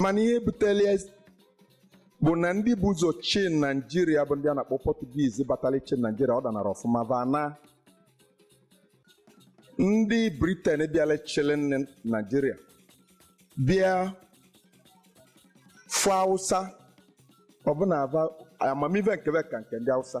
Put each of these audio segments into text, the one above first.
mana ihe butere ya bụ na ndị bu ụzọ chị naijiria bụ ndị a na-akpọ pọtugiz batara ịchị naijiria ọ danarọ ọfụma va na ndị briten bịara chịrị naijiria bịa fụ hausa ọ bụ na ava amamive nke ve ka nke ndị hausa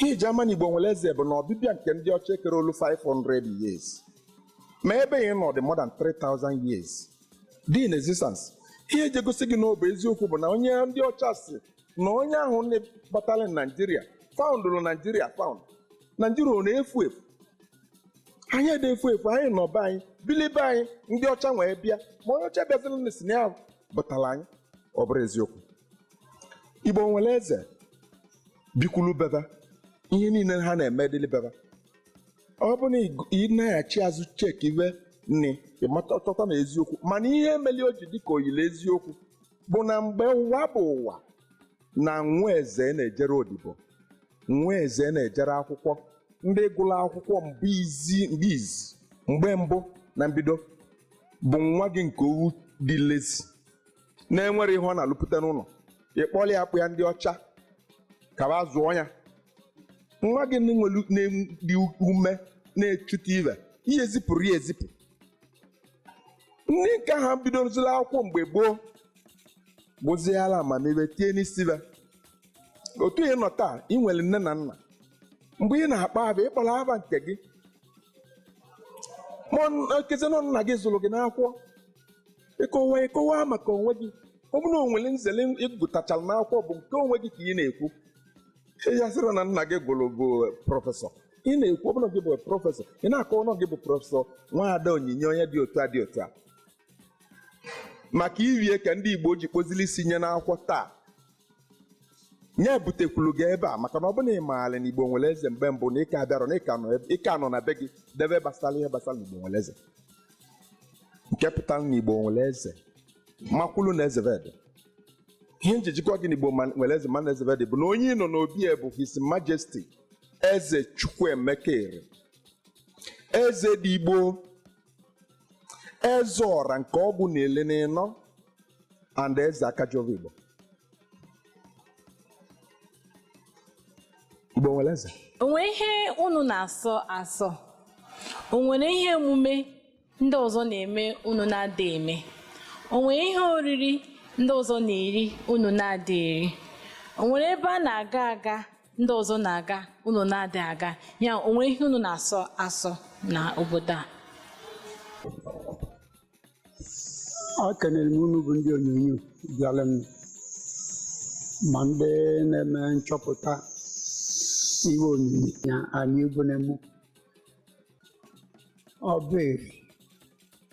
Ihe e ji ama na Igbo nwere eze bụ na ọbịbịa nke ndị ọcha ekere olu 500 years ma ebe ị nọ dị more than 3000 years dị in existence ihe eji egosi gị na ọ bụ eziokwu bụ na onye ndị ọcha sị na onye ahụ batara naijiria foundụrụ naijiria found naijiria ọ na-efu efu anyị adị efu efu anyị nọ be anyị bili be anyị ndị ọcha nwee bịa ma onye ọcha bịaziri na sị na ya vụtara anyị ọ bụrụ eziokwu igbo nwere eze bikwulu be ve ihe niile ha na-eme dịlị be ve ọ bụ na ị- ị na-aghachi azụ cheki ive niine ị mata chọta na eziokwu mana ihe meli o ji dịka o yili eziokwu bụ na mgbe ụwa bụ ụwa na nwa eze na-ejerọ odibo nwa eze na-ejerọ akwụkwọ ndị gụrụ akwụkwọ mgbe izi mgbe izi mgbe mbụ na mbido bụ nwa gị nke ọ wụ dị lazy na-enwerọ ihe ọ na-alụpụta n'ụlọ ị kpọlị ya kpụya ndị ọcha ka va zụọ ya nwa gị na-adị ume na-echute ive ị ezipụrọ ya ezipụ ndị nke ha bidozila akwụkwọ mgbe gboo buziala amamihe tie n'isi ve otu ị nọ taa ị nwere nne na nna mgbe ị na-akpọ ava ị kpọrọ ava nke gị ma ọ na- ekezi na nna gị zụrụ gị n'akwụkwọ ị kọwa ị kọwa maka onwe gị ọ bụrụ na o nwere nzere ị gụtachara n'akwụkwọ bụ nke onwe gị ka ị na-ekwu ị ya-asịrọ na nna gị gụrụ bụ prọfesọ ị na-ekwu ọ bụ na gị bụ prọfesọ ị na-akọ ọnụ gị bụ prọfesọ nwaada onyinye onye dị otu a dị otu a maka ive a ka ndị igbo ji kpozili isi nye n'akwụkwọ taa nye butekwulu gị ebe a maka na ọ bụrụ na ị maara na igbo nwere eze mgbe mbụ na ị ka abịarọ na ị ka nọ ebe- ị ka nọ na be gị debe gbasara ihe gbasara na igbo nwere eze nke pụtara na igbo nwere eze makwulu na eze ve dị ihe m ji ji gwa gị na igbo ma- nwere eze ma na eze ve dị bụ na onye ị nọ n'obi ya bụ his majesty eze chukwuemeka eri ezedigbo eze ọra nke ọgụ na ili na ịnọ and eze aka ji ọvọ igbo igbo nwere eze o nwere ihe unu na-asọ asọ o nwere ihe emume ndị ọzọ na-eme unu na-adị eme o nwere ihe oriri ndị ọzọ na-eri unu na-adị eri o nwere ebe a na-aga aga ndị ọzọ na-aga unu na-adị aga ya o nwee ihe unu na-asọ asọ na obodo a ekenere m unu bụ ndị onyonyo bịara m ma ndị na-eme nchọpụta ihe onyonyo ya anyị egwu na-emu Obu Eri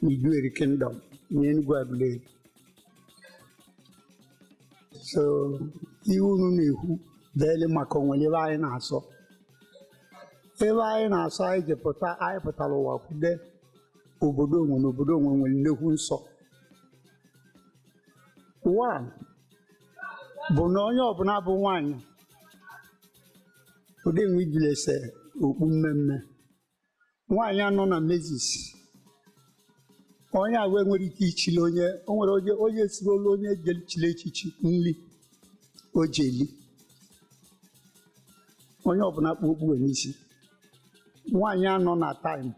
na Iduu Eri kingdom na Enugu Aguleri so iwe unu na-ekwu deli maka o nwere iwe anyị na-asọ ebe anyị na-asọ anyị ji pụta anyị pụtara ụwa kwude obodo onwe na obodo onwe nwere nnekwu nsọ one bụ na onye ọbụla bụ nwaanyị ụdị nwe ijiri ese okpu mmee mmee nwaanyị a nọ na menses onye ahụ enwerọ ike isili onye o nwere onye onye esiri olu onye chiri echichi nri o ji eli onye ọbụla kpu okpu wee n'isi nwaanyị a nọ na time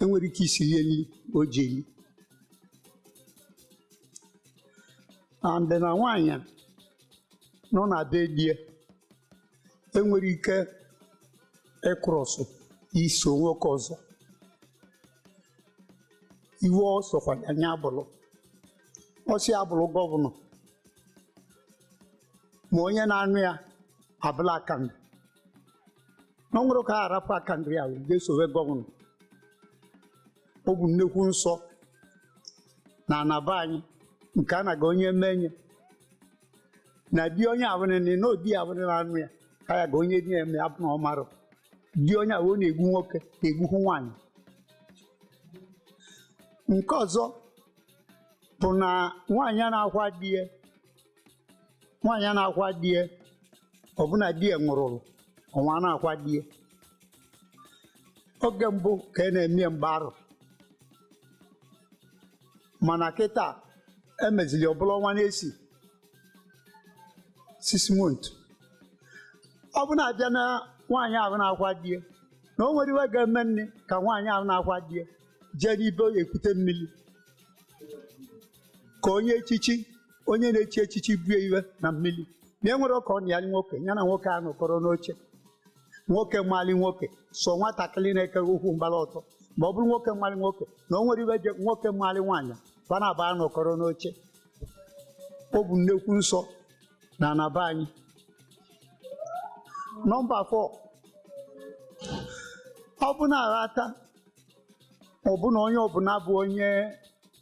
enwerọ ike isili ya nri o ji eli and na nwaanyị a, nọ na be di ya enwerọ ike ịcross iso nwoke ọzọ iwe ọ sọkwa ya nya bụrụ ọ sị ya bụrụ governor ma onye na-anụ ya bụrụ akandị na o nwerọ ka ọ ya-arapụ akandị ya je esowe governor ọ bụ nnekwu nsọ na ana be anyị nke a na-aga onye menye na di onye abụnịnị na odi abụnị na anụ ya ka ya ga onye di ya eme abụ na ọ marọ di onye abụ ọ na-egbu nwoke na-egbukwu nwaanyị nke ọzọ bụ na nwaanyị a na-akwa di ya nwaanyị a na-akwa di ya ọ bụ na di ya nwụrụrụ ọnwa a na-akwa di ya oge mbụ ka a na-eme ya mgba arọ mana kịta emezili ọ bụrụ ọnwa n'isii six month ọ bụ na a bịa na nwaanyị ahụ na-akwa di ya na o nwerọ iwe ga-emenụ ka nwaanyị ahụ na-akwa di ya jee n'ibe ọ ya-ekute mmiri ka onye echichi onye na-echi echichi bue iwe na mmiri na enwerọ ka ọ na ya nwoke ya na nwoke anọkọrọ n'oche nwoke mali nwoke sọ nwatakịrị na-eke ukwu mgbara ọtọ ma ọ bụrụ nwoke mali nwoke na o nwerọ iwe je nwoke mali nwaanyị fa naabọ nọkọrọ n'oche ọ bụ nnekwu nsọ na ana be anyị number 4 ọ bụ na aghata ọ bụ na onye ọbụla bụ onye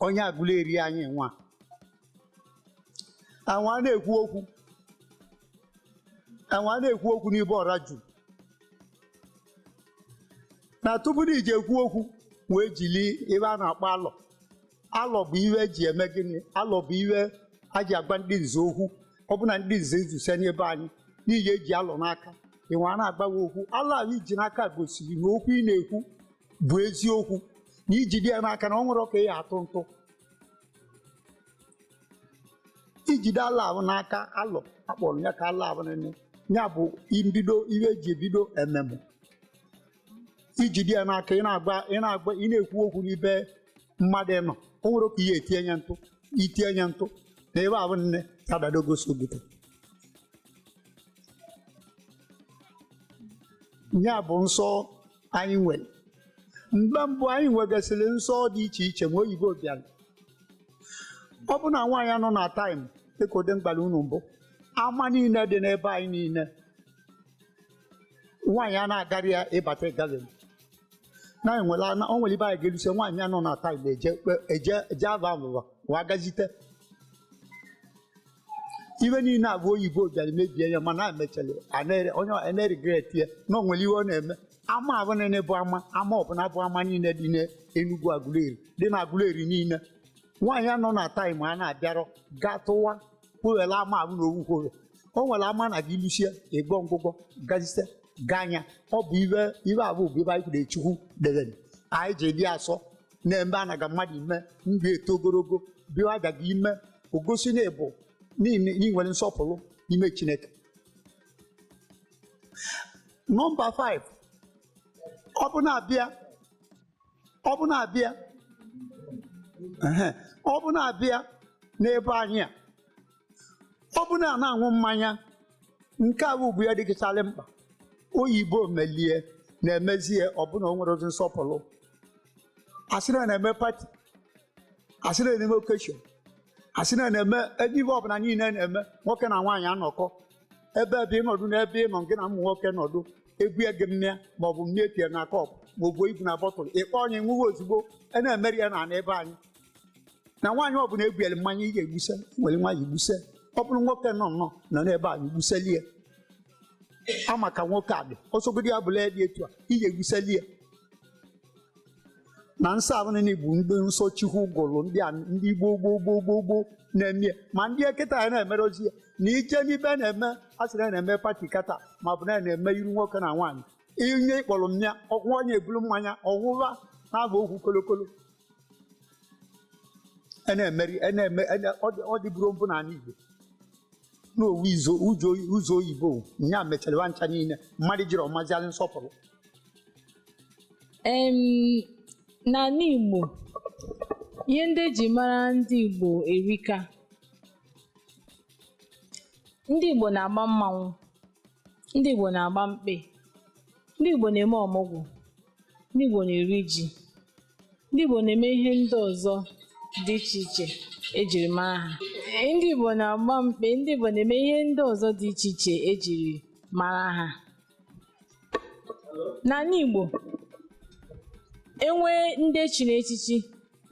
onye Aguleri anyị nwa anwa na-ekwu okwu anwa na-ekwu okwu n'ibe ọra ju na tupu na i je ekwu okwu wee jili ive a na-akpọ alọ alọ bụ ihe eji eme gịnị alọ bụ ihe a ji agba ndị nze okwu ọ bụ na ndị nze ezusie na be anyị ị ya-eji alọ n'aka i wee na-agba okwu alọ ahụ i ji n'aka gosiri na okwu ị na-ekwu bụ eziokwu na i jide ya n'aka na o nwerọ ka ị ya-atụ ntụ i jide alọ ahụ n'aka alọ akpọrọ ya ka alọ ahụ nene ya bụ mbido ihe eji ebido ememe i jide ya n'aka ị na-agba ị na-agba ị na-ekwu okwu n'ibe mmadụ nọ o nwerọ ka ị ya-etinye nya ntụ itinye nya ntụ na ebe avụ nne ka dada gosi obodo ya bụ nsọ anyị nwere mgbe mbụ anyị nwegasịrị nsọ dị iche iche ma oyibo abịarọ ọ bụ na nwaanyị anọ na taịm dịka ụdị mbala unu mbụ ama niile dị n'ebe anyị niile nwaanyị a na-agarọ ya ị bata galili na enwela na o nwere ibe anyị ga-eruse nwaanyị a nọ na taịm eje kpe- eje eje ava avụva wa gazite ive niile avụ oyibo bịara mebie ya mana a mechara anere onye a na-regret ya na o nwere ihe ọ na-eme ama avụ niile bụ ama ama ọbụla bụ ama niile dị n'Enugu Aguleri dị na Aguleri niile nwaanyị a nọ na taịm a na-abịarọ gaa tụwa kpụghela ama avụ na owukworo o nwere ama a na-aga i lusie ịgwọ ngwụgwọ gazite gaa anya ọ bụ ive ive avụ bụ ive anyị kwuru Chukwu debere anyị ji dị asọ na-eme anaga mmadụ ime ndụ eto ogologo bịa aja gị ime ogosi na ị bụ na i nwere nsọpụrụ n'ime Chineke nọmba 5 ọ bụ na a bịa ọ bụ na a bịa ehe, ọ bụ na a bịa n'ebe anyị a ọ bụ na a na-aṅụ mmanya nke a bụ ya dịkasịrị mkpa oyibo melie na-emezi ya ọ bụ na o nwerọzi nsọpụrụ a sị na a na-eme pati a sị na a na-eme okeshọn a sị na a na-eme ive ive ọbụla niile na-eme nwoke na nwaanyị anọkọ ebe ebe ị nọdụ na ebe ị nọ gị na ụmụ nwoke nọdụ e bue gị mmịa ma ọ bụ mmịa tie na kọp ma ọ bụ ibu na bọtụl ị kpọnye ṅụwa ozugbo a na-emerọ ya na ana be anyị na nwaanyị ọbụla ebuere mmanya ị ga-egbuse nwere nwaanyị gbuse ọ bụrụ nwoke nọ nnọọ nọ n'ebe a egbuseli ya ọ maka nwoke a dị ọsọgodi ya bụla ya dị etu a ị ga-egbuseli ya na nsọ ahụ niile bụ ndị nsọ chukwu gụrụ ndị a ndị gboo gboo gboo gboo gboo na-eme ya. ma ndị kịta ya na-emerozi ya na ije n'ibe na-eme a sị na ya na-eme pati kata ma ọ bụ na ya na-eme iru nwoke na nwaanyị inye ịkpọrọ mmanya ọnwa onye ebulu mmanya ọṅụwa na-agba okwu kolokolo a na-emeri a na-eme a na- ọ dị- ọ dịburọ mbụ n'ala Igbo na ọ wụ izo ụzọ oyi- ụzọ oyibo nya mechara ha ncha niile mmadụ jiri ọmazialị nsọpụrụ Em, n'ala Igbo ihe ndị eji mara ndị Igbo erika ndị Igbo na-agba mmanwụ ndị Igbo na-agba mkpe ndị Igbo na-eme ọmụgwọ ndị Igbo na-eri ji ndị Igbo na-eme ihe ndị ọzọ dị iche iche ejiri mara ha Ee, ndị Igbo na-agba mkpe ndị Igbo na-eme ihe ndị ọzọ dị iche iche ejiri mara ha n'ala Igbo enwee ndị echiri echichi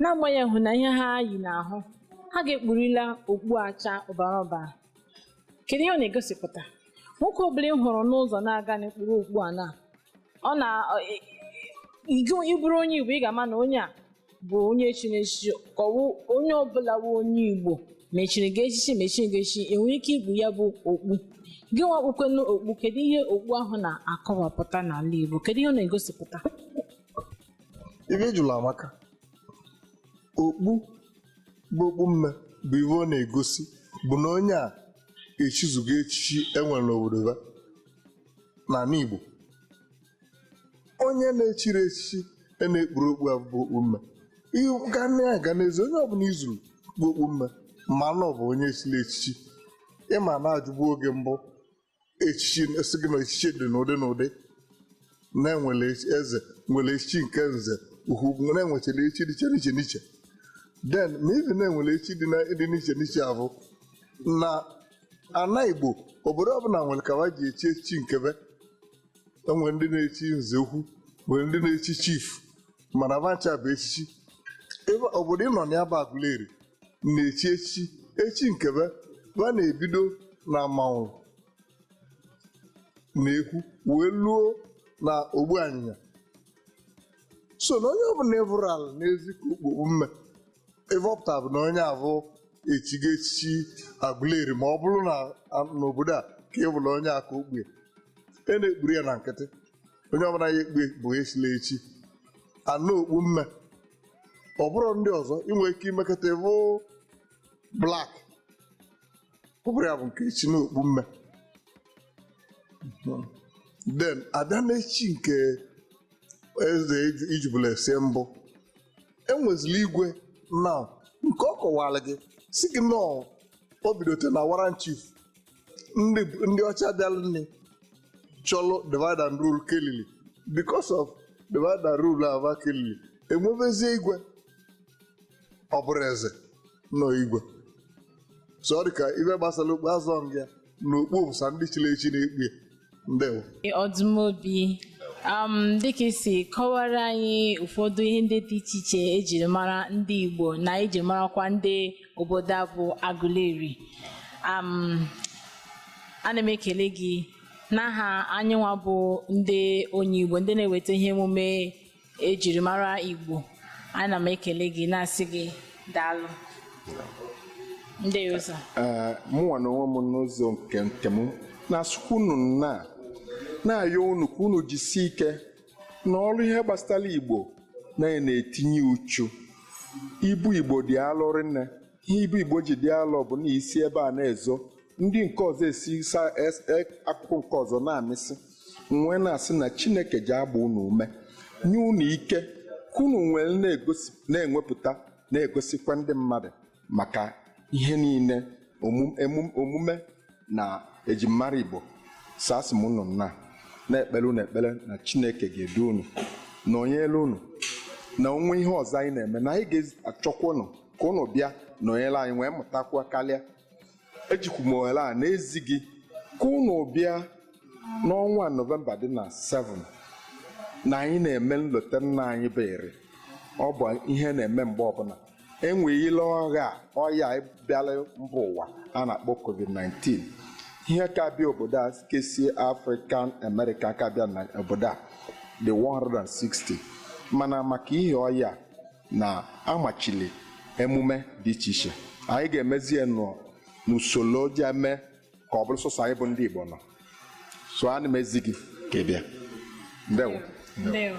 n'agbanyeghị na ihe ha yi n'ahụ ha ga-ekpurila okpu acha ọbara ọbara kedu ihe ọ na-egosipụta nwoke ọbụla ị hụrụ n'ụzọ na-aga na-ekpuru okpu a na ọ na ọ- ị- ị- gị onye bụrụ onye igbo ị ga-ama na onye a bụ onye echiri echichi ka ọ wụ onye ọbụla wụ onye igbo ma echiri gị echichi ma echirighị echichi enwere ike ikpu ya bụ okpu gị nwa ekpukwanụ okpu kedu ihe okpu ahụ na-akọwapụta n'ala igbo kedu ihe ọ na-egosipụta ihe ị jụlụ amaka okpu bụ okpu mme bụ ihe ọ na-egosi bụ na onye a echizugo echichi enwere n'obodo ya n'ala Igbo onye na-echiri echichi a na-ekpuru okpu a bụ okpu mme ị ga na-aga n'ezi onye ọbụla i zuru kpu okpu mme ma na ọ bụ onye chiri echichi ịma na-ajụbu oge mbụ echichi sị gị na echichi dị n'ụdị n'ụdị na-enwere echi- eze nwere echichi nke nze ukwu ugwu na enwechara echichi dịcha n'iche n'iche then ma ibi na enwere echichi dị na- dị n'iche n'iche a bụ na ana igbo obodo ọbụla nwere ka ha ji echi echichi nke be enwere ndị na-echi nze ukwu nwere ndị na-echi chief mana va ncha bụ echichi ebe obodo ịnọ na ya bụ Aguleri na-echi echichi echi nke be va na-ebido na amanwụlụ na ekwu wee luo na ogbuanyịnya so na onye ọbụla ị vụrụ anya n'ezi ka o kpu okpu mme ive ọ pụtara bụ na onye abụ echigo echichi Aguleri ma ọ bụrụ na a- n'obodo a ka ị bụla onye aka okpue e na-ekpuru ya na nkịtị onye ọbụla ya ekpue bụ echila echi na okpu mme ọ bụrụ ndị ọzọ ị nwere ike imekọta ịbụ black ọ bụrụ ya bụ nke echi na okpu mme then a bịa n'echi nke eze ijibụla ese mbụ e nwezila igwe now nke ọ kọwara gị sị gị na o bidote na warrant chief ndị ọcha bịara nne chọlụ divide and rule kelili because of divide and rule a va kelili e nwevezie igwe ọ bụrụ eze nọ igwe so ọ dị ka ive gbasara okpu azọ nga n'okpu bụ sọ ndị chiri echi na-ekpu ya ndewo Ọdụmobi um, dịka i si kọwara anyị ụfọdụ ihe ndị dị iche iche ejiri mara ndị Igbo na eji marakwa ndị obodo a bụ Aguleri um, ana m ekele gị n'aha anyịnwa bụ ndị onye Igbo ndị na-eweta ihe emume ejirimara Igbo ana m ekele gị na-asị gị daalụ ndị ụzọ ee mụnwa na onwe m n'ụzọ nke nke m na-asịkwa unu nnọọ na-ayọ unu ka unu jisie ike na ọrụ ihe gbasara Igbo na-etinye uchu ibu Igbo dị alụ rinne ihe ibu Igbo ji dị alọ bụ na e si ebe a na-ezo ndị nke ọzọ e si sa es- e- akụkụ nke ọzọ na-amịsị nwee na-asị na Chineke ji agba unu ume nye unu ike ka unu nwee na-egosi na-ewepụta na-egosikwa ndị mmadụ maka ihe niile omu- emu- omume na ejimara Igbo so asị m unu nnọọ na-ekpere unu ekpere na Chineke ga-edu unu nọnyelu unu na o nwe ihe ọzọ anyị na-eme na anyị ga-achọkwa unu ka ụnụ bịa nọnyere anyị wee mụtakwuo karịa ejikwu m ohere a na-ezi gị ka ụnụ bịa n'ọnwa Nọvemba dị na 7 na anyị na-eme nlota nna anyị bụ Eri ọ bụ ihe na-eme mgbe ọ bụ na enweghịla ọya a, ọya a bịara mba ụwa a na-akpọ COVID-19 ihe ka-abịa obodo a kesie African American ka-abịa na obodo a dị 160 mana maka ihe ọya a, na a machili emume dị iche iche anyị ga-emezi ya nọ n'usoro ji eme ka ọ bụrụ sọsọ anyị bụ ndị Igbo nọ so ana m ezi gị ka ị bịa ndewo Ndewo.